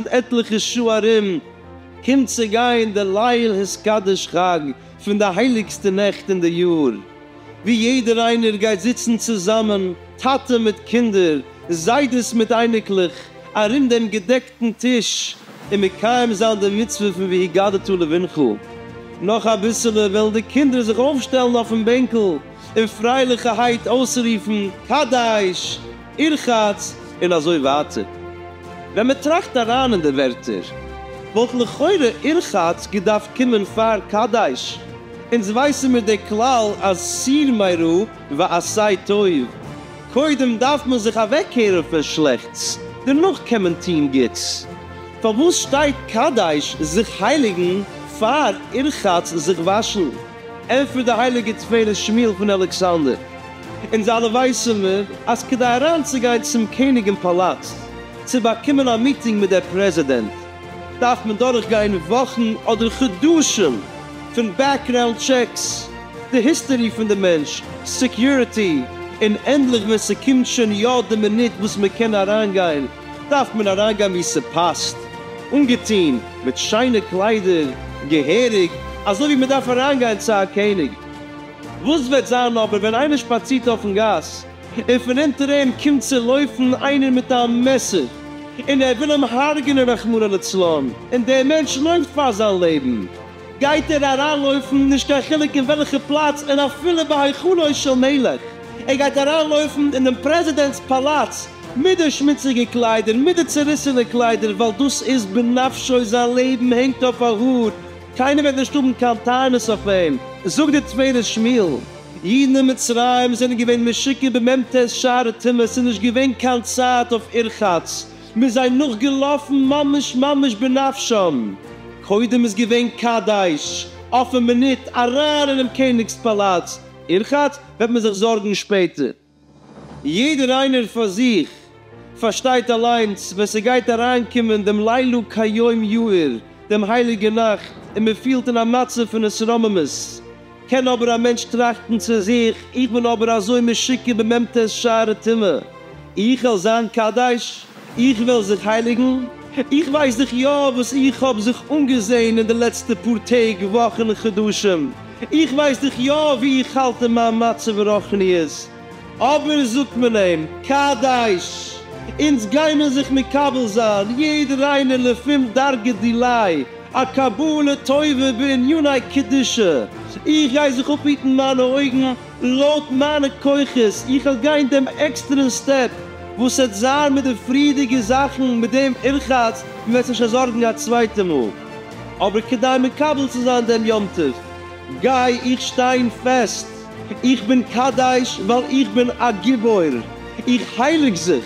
עטליכע שעה ארום קומט צו גיין די ליל התקדש חג פון די הייליגסטע נעכט אין די יאר, ווי יעדער איינער גייט זיצן צוזאמען, טאטע מיט קינדער, זיידעס מיט אייניקלעך, ארום דעם געדעקטן טיש, און מקיים זיין די מצוה פון והגדת לבנך, נאך אביסעלע וועלן די קינדער זיך אויפשטעלן אויפן בענקל און פרייליכערהייט אויסרופן קדש, ירחץ, און אזוי ווייטער. ווען מען טראכט אריין אין די ווערטער, וואלט לכאורה ירחץ געדארפט קומען פאר קדש, אונז ווייסן מיר די כלל אז סיר מרע ועשה טוב, קודם דארף מען זיך אוועקקערן פון שלעכטס, דערנאך קען מען טון גוטס. פארוואס שטייט קדש זיך הייליגן פאר רחץ זיך וואשן? ענטפערט די הייליגע תפארת שמואל פון אלכסנדר, אונז אלע ווייסן מיר אז כדי אריינצוגיין צום קעניג אין פאלאץ צו באקומען א מיטינג מיט דער פרעזידענט, דארף מען דורכגיין וואכן אדער חדשים פון בעקגראונד טשעקס, די היסטערי פון די מענטש, סעקיוריטי און ענדליך ווען ס'קומט שוין יא די מינוט וואס מ'קען אריינגיין דארף מען אריינגיין ווי ס'פאסט, אנגעטון מיט שיינע קליידער, געהעריג אזוי ווי מ'דארף אריינגיין צו א קעניג. וואס וועט זיין אבער ווען איינער שפאצירט אויפן גאס און פון אונטער אים קומט צו לויפן איינער מיט א מעסער און ער וויל אים הרג'נען רחמנא לצלן און דער מענטש לויפט פאר זיין לעבן, גייט ער אריינלויפן נישט קיין חילוק אין וועלכע פלאץ און אפילו בהיכלו של מלך, ער גייט אריינלויפן אין דעם פרעזידענט'ס פאלאץ מיט די שמוציגע קליידער מיט די צעריסענע קליידער ווייל דאס איז בנפשו זיין לעבן הענגט אויף א האר, קיינער וועט נישט האבן קיין טענות אויף אים, זאגט דער טפילת שמואל. אידן אין מצרים זענען געווען משוקע בממ ט שער הטומאה, ס'איז נישט געווען קיין צייט אויף ערחץ, מ'איז זיי נאכגעלאפן ממש ממש בנפשם, קודם איז געווען קדש, אויפן מינוט אריין אינעם קעניגס פאלאץ, ערחץ וועט מען זיך זארגן שפעטער. יעדער איינער פאר זיך פארשטייט אליינס ווען ס'גייט אריינקומען דעם לילה כיום יאיר, דעם הייליגע נאכט, און מ'פילט אין א מצב פון התרוממות, קען אבער א מענטש טראכטן צו זיך, איך בין אבער אזוי משוקע במ ט שערי טומאה, איך העל זיין קדוש? איך וועל זיך הייליגן, איך ווייס דאך יא וואס איך האב זיך אנגעזעהן אין די לעצטע פאר טעג וואכן חדשים, איך ווייס דאך יא ווי איך האלט אין מיין מצב רוחניות, אבער זאגט מען אים קדש, אונז גיימער זיך מקבל זיין יעדער איינער לפום דרגא דילאי א קבלה טובה בעניני קדושה, איך גיי זיך אפהיטן מיינע אויגן, לויט מיינע כוחות, איך וועל גיין דעם עקסטערן סטעפ, וואס העט זיין מיט די פריעדיגע זאכן מיט דעם ערחץ, מען וועט זיך נישט זארגן א צווייטע מאל. אבער כדי מקבל צו זיין דעם יום טוב, גיי איך שטיין פעסט, איך בין קדש ווייל איך בין א גיבור, איך הייליג זיך.